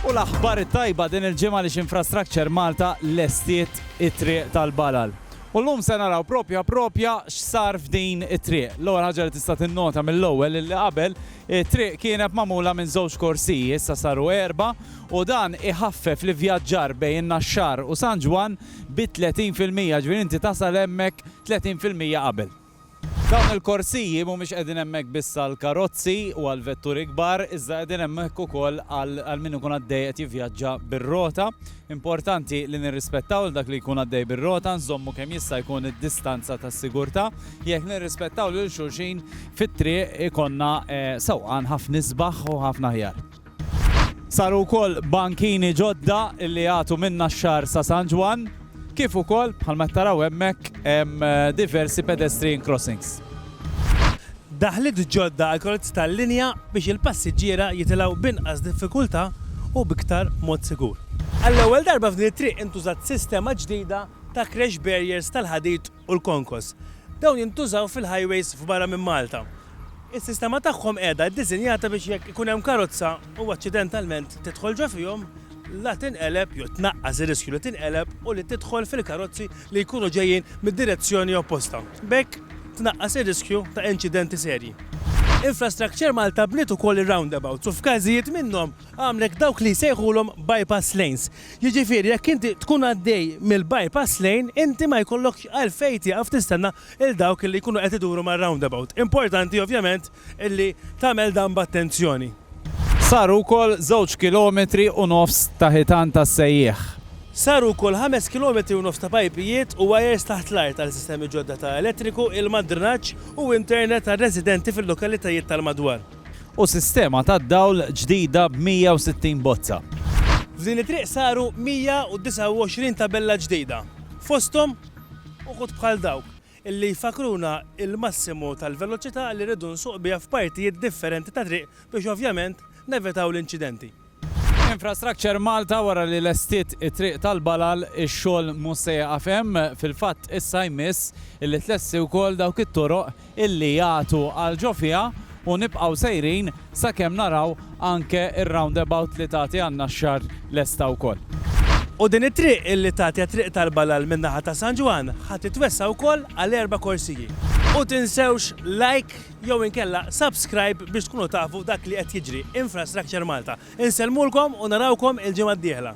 U l-aħbar it-tajba din il-ġimgħa li x'Infrastructure Malta lestiet it-triq tal-Balal. U llum se naraw propja propja x'sar f'din it-triq. L-ewwel ħaġa li tista' tinnota mill-ewwel illi qabel it-triq kienet magħmula minn żewġ korsiji, issa saru erba' u dan iħaffef l-ivvjaġġar bejn in-Naxxar u San Ġwann bi 30 fil-mija, ġifieri inti tasal hemmhekk 30 fil-mija qabel. Dawn il-korsiji mhumiex qegħdin hemmhekk biss għall-karozzi u għall-vetturi kbar, iżda qegħdin hemmhekk ukoll għal min ikun għaddej qed jivvjaġġa bir-rota. Importanti li nirrispettaw lil dak li jkun għaddej bir-rota, nżommu kemm jista' jkun id-distanza ta' sigurtà. Jekk nirrispettaw lil xulxin fit-triq ikollna sewqan ħafna isbaħ u ħafna aħjar. Saru wkoll bankini ġodda li jagħtu minn Naxxar sa San Ġwann, kif ukoll, bħalma qed taraw hemmhekk, hemm diversi pedestrian crossings. Daħliet ġodda għall-karozzi tal-linja biex il-passiġġiera jitilgħu b'inqas diffikultà u b'iktar mod sigur. Għall-ewwel darba f'din it-triq intużat sistema ġdida ta' crash barriers tal-ħadid u l-konkos. Dawn jintużaw fil-highways f'barra minn Malta. Is-sistema tagħhom qiegħda ddisinjata biex jekk ikun hemm karozza u aċċidentalment tidħol ġo fihom, la tinqeleb jew tnaqqas ir-riskju li tinqeleb u li tidħol fil-karozzi li jkunu ġejjin mid-direzzjoni opposta. B'hekk tnaqqas ir-riskju ta' inċidenti serji. Infrastructure Malta bniet ukoll ir-roundabouts u f'każijiet minnhom, għamlek dawk li jsejħulhom bypass lanes. Jiġifieri jekk inti tkun għaddej mill-bypass lane, inti ma jkollokx għalfejn tieqaf tistenna 'l dawk li jkunu qed iduru mar-roundabout. Importanti ovvjament illi tagħmel dan b'attenzjoni. Saru wkoll żewġ kilometri u nofs ta' ħitan tas-sejjieħ. Saru wkoll ħames kilometri u nofs ta' pajpijiet u wajers taħt l-art għal sistemi ġodda ta' elettriku, ilma, drenaġġ u internet għar-residenti fil-lokalitajiet tal-madwar. u sistema tad-dawl ġdida b' 160 bozza. F'din it-triq saru 129 tabella ġdida, fosthom uħud bħal dawk li jfakkruna l-massimu tal-veloċità li rridu nsuq biha f'partijiet differenti ta' triq biex ovvjament nevitaw l-inċidenti. Infrastructure Malta wara li lestiet it-Triq tal-Balal ix-xogħol mhux se jieqaf hemm, fil-fatt issa jmiss li tlesti wkoll dawk it-toroq illi jagħtu għal ġo fiha u nibqgħu sejrin sakemm naraw anke r-roundabout li tagħti għan-Naxxar lesta wkoll. U din it-triq illi tagħti għat-Triq tal-Balal min-naħa ta' San Ġwann ħa titwessa' wkoll għal erba' korsiji. U tinsewx like. jew inkella subscribe biex tkunu tafu dak li qed jiġri Infrastructure Malta. Insellmulkom u narawkom il-ġimgħa d-dieħla.